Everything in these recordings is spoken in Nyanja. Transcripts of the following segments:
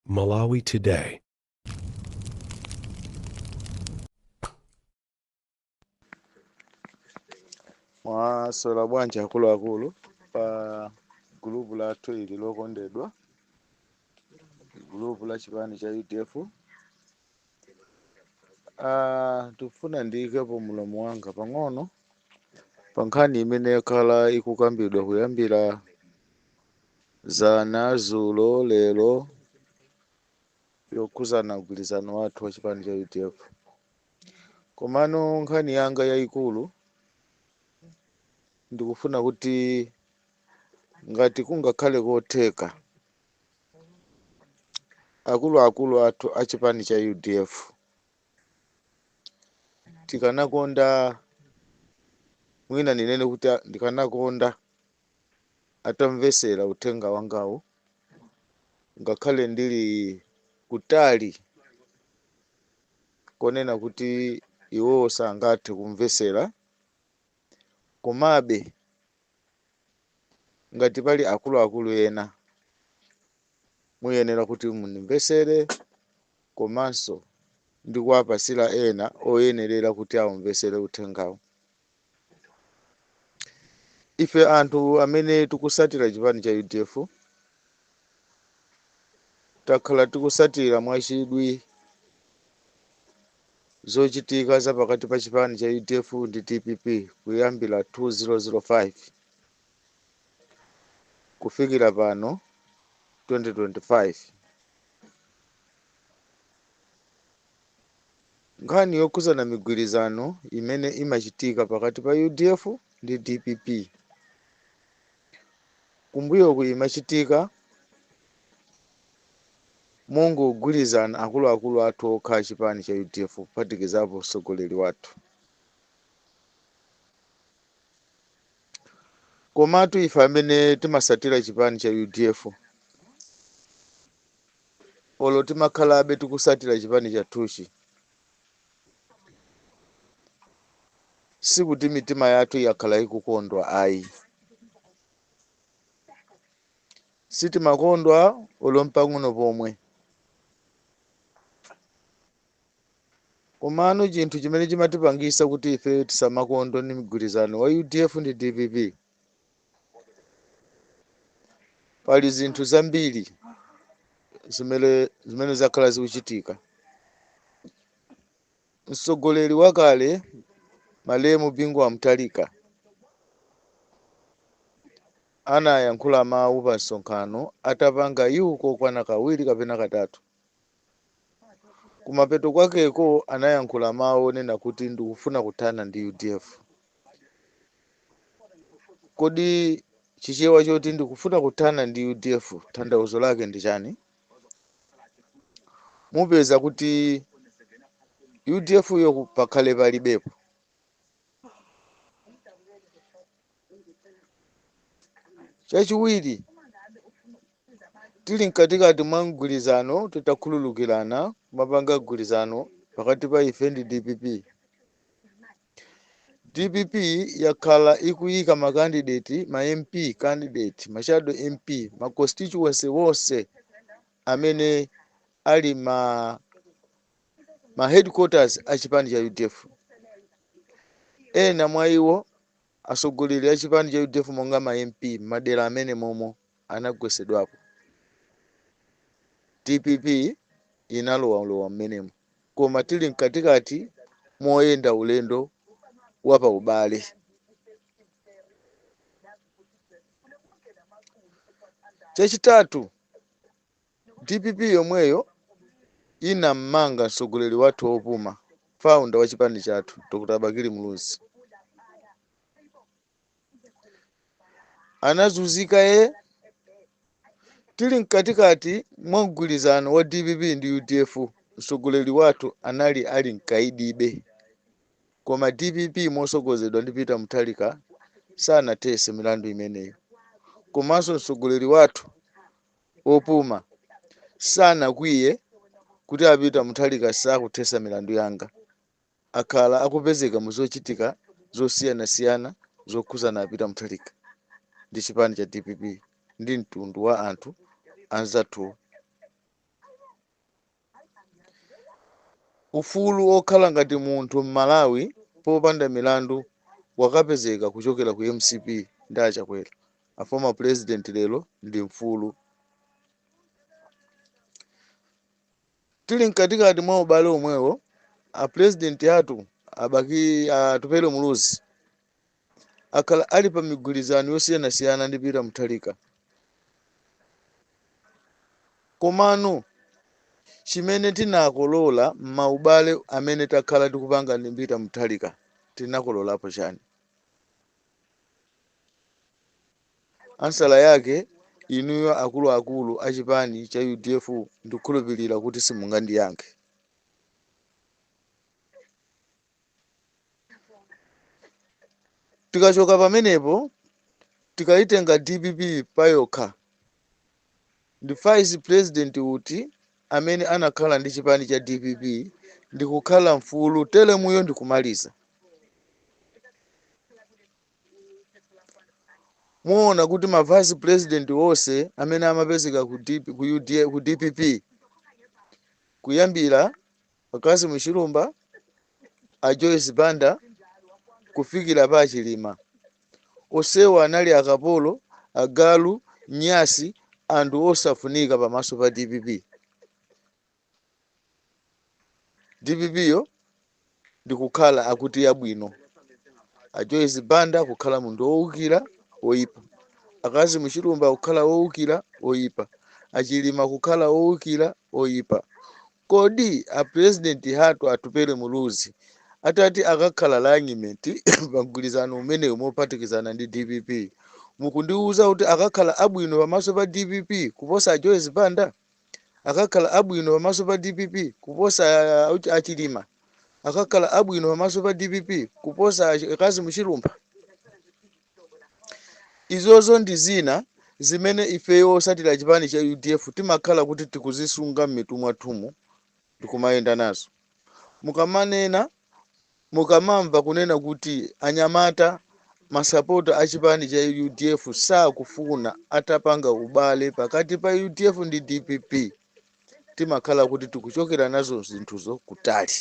Malawi Today. mwaswera bwanji akuluakulu pa gulupu lathu ili lokondedwa gulupu la chipani cha udf Ah, ndikufuna ndiyikepo mulomo wanga pang'ono pa nkhani imene yakhala ikukambidwa kuyambira Dzana, dzulo, lero yokhudzana mgwirizano wathu wa chipani cha udf komano nkhani yanga yayikulu ndikufuna kuti ngati kungakhale kotheka akuluakulu athu a chipani cha udf tikanakonda mwina ndinene kuti a- ndikanakonda atamvetsera uthenga wangawu ngakhale ndili kutali konena kuti iwowo sangathe kumvetsera komabe ngati pali akuluakulu ena muyenera kuti mundimvetsere komanso ndikuwapatsira ena oyenerera kuti aumvetsere uthengawu ife anthu amene tikusatira chipani cha udf takhala tikusatira mwachidwi zochitika za pakati pa chipani cha udf ndi dpp kuyambira 2005 kufikira pano 2025 Nkhani yokhudzana migwirizano imene imachitika pakati pa udf ndi dpp kumbuyoku imachitika mongogwirizana akuluakulu athu okha a chipani cha udf kuphatikizapo mtsogoleri wathu komatu ife amene timasatira chipani cha udf olo timakhalabe tikusatira chipani chathuchi sikuti mitima yathu yakhala ikukondwa ayi sitimakondwa olo mpang'ono pomwe komano chinthu chimene chimatipangisa kuti ife tisamakondwe ni mgwirizano wa udf ndi dpp pali zinthu zambiri zimene zakhala zikuchitika mtsogoleri wakale malemu bingu wa mutharika anayankhula mawu pa msonkhano atapanga iwo kokwana kawiri kapena katatu kumapeto kwakeko anayankhula mawu onena kuti ndikufuna kuthana ndi udf kodi chichewa choti ndikufuna kuthana ndi udf tanthauzo lake ndi chani mupeza kuti udf yo pakhale palibepo chachiwiri tili mkatikati mwa mgwirizano titakhululukirana mapanga mgwirizano pakati pa ife ndi dpp dpp yakhala ikuyika makandideti ma mp candidate mashado mp ma constituency wonse amene ali ma headquarters a chipani cha udf ena mwa iwo Atsogoleri achipani cha udf monga ma MP m'madera amene momo anagwetsedwapo. Dpp inalowalowa m'menemo koma tili mkatikati moyenda ulendo wa pa ubale. Chachitatu, Dpp yomweyo inammanga mtsogoleri wathu opuma, founder wa chipani chathu Dr Bakili Muluzi. Anazunzika e tili mkatikati mwa mgwirizano wa dpp ndi udf, mtsogoleri wathu anali ali mkaidibe, koma dpp motsogozedwa ndi Peter Mutharika sanathese milandu imeneyo. Komanso mtsogoleri wathu opuma sanakwiye kuti a Peter Mutharika sakuthesa milandu yanga. Akhala akupezeka mu zochitika zosiyanasiyana zokhuzana a Peter Mutharika ndi chipani cha dpp ndi mtundu wa anthu anzathuwo. Ufulu okhala ngati munthu mmalawi popanda milandu wakapezeka kuchokera ku mcp ndi achakwera a former president lero ndi mfulu. Tili mkatikati mwa ubale omwewo a president athu a atupele muluzi akhala ali pa migwirizano yosiyanasiyana ndi Peter Mutharika. Komano chimene tinakolola m'maubale amene takhala tikupanga ndi Peter Mutharika, tinakololapo chani? Ansala yake inuyo akuluakulu a chipani cha udf ndikhulupirira kuti simungandiyankhe. tikachoka pamenepo tikayitenga dpp payokha ndi vice president uti amene anakhala ndi chipani cha dpp ndikukhala mfulu telemuyo ndikumaliza muona kuti ma vice president onse amene amapezeka ku dpp kuyambira a Cassim Chilumpha, a Joyce Banda kufikira pa Chilima. Onsewa anali akapolo, agalu, nyasi, anthu osafunika pamaso pa DPP. DPP yo ndikukhala akuti yabwino. A Joyce Banda kukhala munthu wowukira woyipa. A Cassim Chilumpha kukhala wowukira woyipa. A Chilima kukhala wowukira woyipa. Kodi a president hatu Atupele Muluzi atati akakhala running mate pa mgwirizano umenewu mophatikizana ndi dpp mukundiuza kuti akakhala abwino pamaso pa dpp kuposa a Joyce Banda? Akakhala abwino pamaso pa dpp kuposa a Chilima? Akakhala abwino pamaso pa dpp kuposa a Cassim Chilumpha? Izozo ndi zina zimene ifeyo osatira chipani cha udf timakhala kuti tikuzisunga mmitu mwathumu ndikumayenda nazo. Mukamanena, mukamamva kunena kuti anyamata masapota a chipani cha udf sakufuna atapanga ubale pakati pa udf ndi dpp timakhala kuti tikuchokera nazo zinthuzo kutali.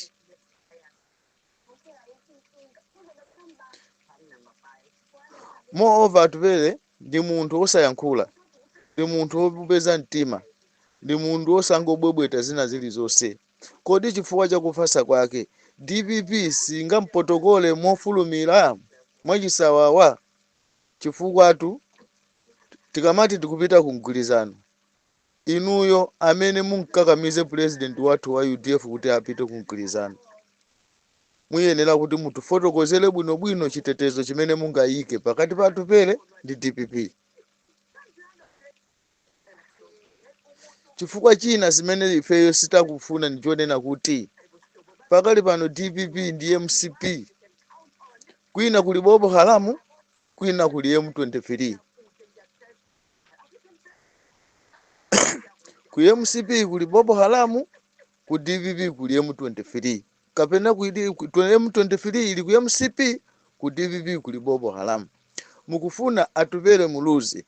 moreover atupele ndi munthu osayankhula ndi munthu wupeza mtima ndi munthu osangobwebweta zina zilizonse kodi chifukwa chakufasa kwake dpp singampotokole mofulumira mwachisawawa chifukwatu tikamati tikupita ku mgwirizano inuyo amene mumkakamize president wathu wa udf kuti apite ku mgwirizano muyenera kuti mutifotokozere bwino bwino chitetezo chimene mungayike pakati pa Atupele ndi dpp chifukwa china chimene ifeyo sitakufuna ndi chonena kuti pakali pano dpp ndi mcp kwina kuli Boko Haramu kwina kuli M23 ku mcp kuli boko haramu ku dpp kuli m23 kapena ku D- ku- twe- m23 ili ku mcp ku dpp kuli boko haramu mukufuna atupele muluzi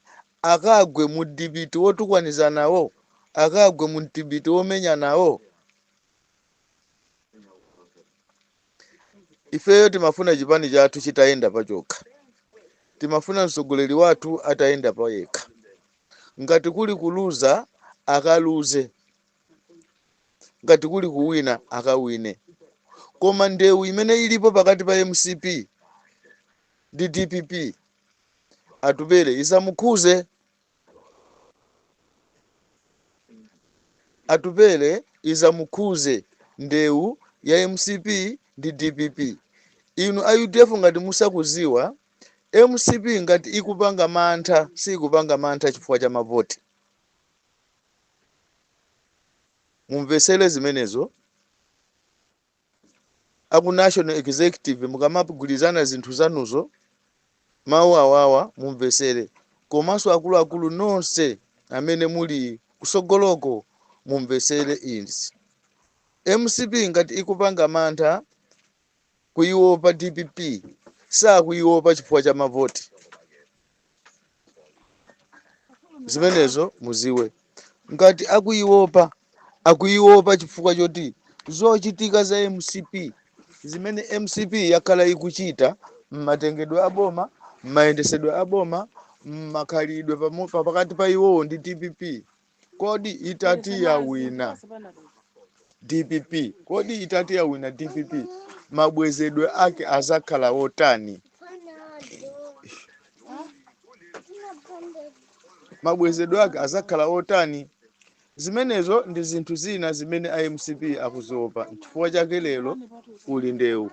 akagwe mu dibiti wotukwanizana nawo akagwe mu dibiti womenya nawo ifeyo timafuna chipani chathu chitayenda pachokha timafuna mtsogoleri wathu atayenda payekha ngati kuli kuluza akaluze ngati kuli kuwina akawine koma ndewu imene ilipo pakati pa mcp ndi dpp atupele isamukhuze Atupele isamukhuze ndewu ya mcp ndi dpp inu a udf ngati musakuziwa mcp ngati ikupanga mantha siikupanga mantha chifukwa cha mavoti mumvesele zimenezo aku national executive mukamagwilizana zinthu zanuzo mawu awawa mumvesere komanso akuluakulu nonse amene muli kusogoloko mumvesere izi mcp ngati ikupanga mantha kuiopa dpp sakuiopa chifukwa cha mavoti zimenezo muziwe ngati akuiopa akuiopa chifukwa choti zochitika za mcp zimene mcp yakhala ikuchita mmatengedwe a boma mmayendesedwe a boma mmakhalidwe pamo- pa- pakati pa iwowo ndi dpp kodi itati yawina dpp kodi itati yawina dpp mabwezedwe ake azakhala otani mabwezedwe ake azakhala otani zimenezo ndi zinthu zina zimene a mcp akuziopa nchifukwa chake lero kuli ndewu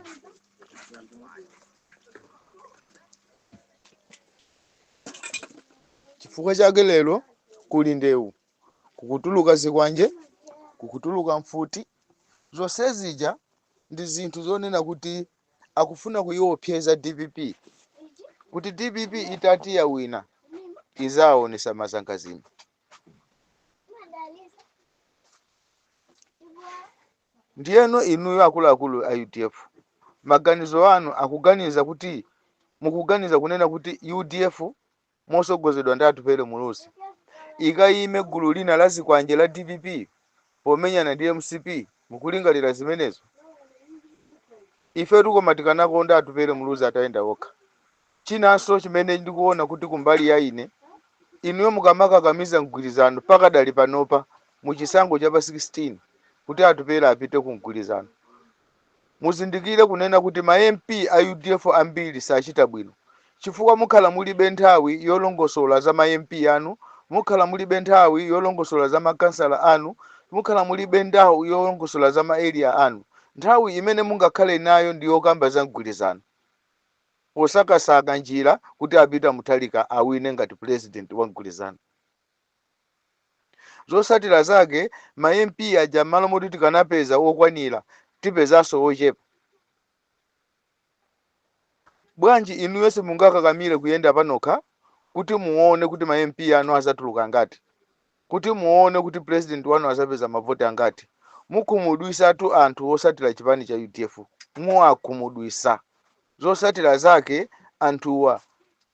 Chifukwa chake lero kuli ndewu, kukutuluka zikwanje, kukutuluka mfuti, zonse zija ndi zinthu zonena kuti akufuna kuyiopseza dpp kuti dpp itati yawina izaonesa mazangazime. Ndiyeno inuyo akuluakulu a udf maganizo anu akuganiza kuti mukuganiza kunena kuti udf mosogozedwa ndi Atupele Muluzi ikayime gulu lina la zikwanje la dpp pomenyana ndi mcp mukulingalira zimenezo? Ifetu koma tikanakonda Atupele Muluzi atayenda okha Chinanso chimene ndikuona kuti kumbali ya ine, inuyo mukamakakamiza mgwirizano pakadali panopa mu chisankho cha pa 16 kuti Atupele apite ku mgwirizano, muzindikire kunena kuti ma MP a udf ambiri sachita bwino chifukwa mukhala mulibe nthawi yolongosola za ma MP anu, mukhala mulibe nthawi yolongosola za ma kansala anu, mukhala mulibe nthawi yolongosola za ma Area anu. Nthawi imene mungakhale nayo ndi yokamba za mgwirizano. posakasaka njira kuti a Peter Mutharika awine ngati president wa mgwirizano. Zosatira zake ma MP aja m'malo moti tikanapeza okwanira tipezanso ochepa. Bwanji inuyo simungakakamire kuyenda panokha kuti muone kuti ma MP anu azatuluka angati? Kuti muone kuti president wanu azapeza mavoti angati mukhumudwisatu anthu osatira chipani cha udf muwakhumudwisa zosatira zake anthuwa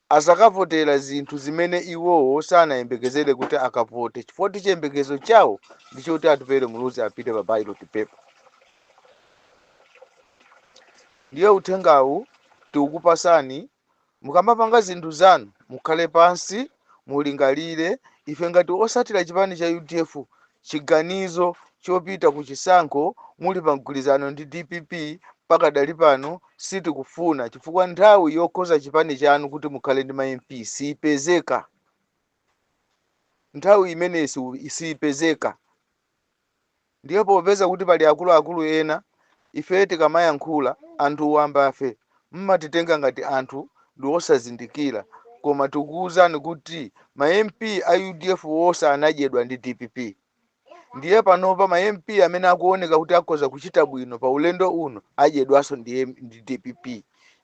azakavotera zinthu zimene iwowo sanayembekezere kuti akavote chifukwa chiyembekezo chawo ndi choti atupele muluzi apite pa ballot paper ndiye uthengawu tiukupasani Mukamapanga zinthu zanu mukhale pansi mulingalire, ife ngati osatira chipani cha udf chiganizo chopita ku chisankho muli pa mgwirizano ndi dpp pakadali pano sitikufuna chifukwa nthawi yokoza chipani chanu kuti mukhale ndi ma mp siipezeka nthawi imeneyi siipezeka. Ndiye popeza kuti pali akuluakulu ena, ifeyo tikamayankhula, anthu wambafe mmatitenga ngati anthu ndi osazindikira koma tikuuzani kuti ma MP a udf onse anadyedwa ndi dpp ndiye panopa ma MP amene akuoneka kuti akhoza kuchita bwino pa ulendo uno adyedwanso ndi dpp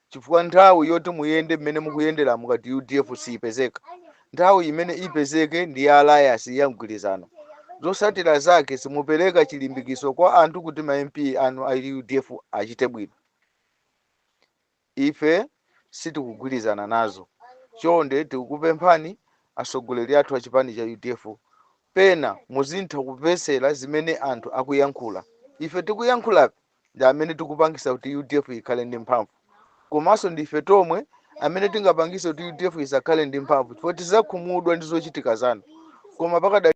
chifukwa nthawi yoti muyende mmene mukuyendera ngati udf siyipezeka nthawi imene ipezeke ndi ya alliance ya mgwirizano zosatira zake simupereka chilimbikiso kwa anthu kuti ma mp anu a udf achite bwino ife sitikugwirizana nazo chonde tikukupemphani atsogoleri athu a chipani cha udf pena muzintha kupesera zimene anthu akuyankhula ife tikuyankhula ndi amene tikupangisa kuti udf ikhale ndi mphamvu komanso ndife tomwe amene tingapangise kuti udf isakhale ndi mphamvu chifukwa tizakhumudwa ndi zochitika zanu koma pakadali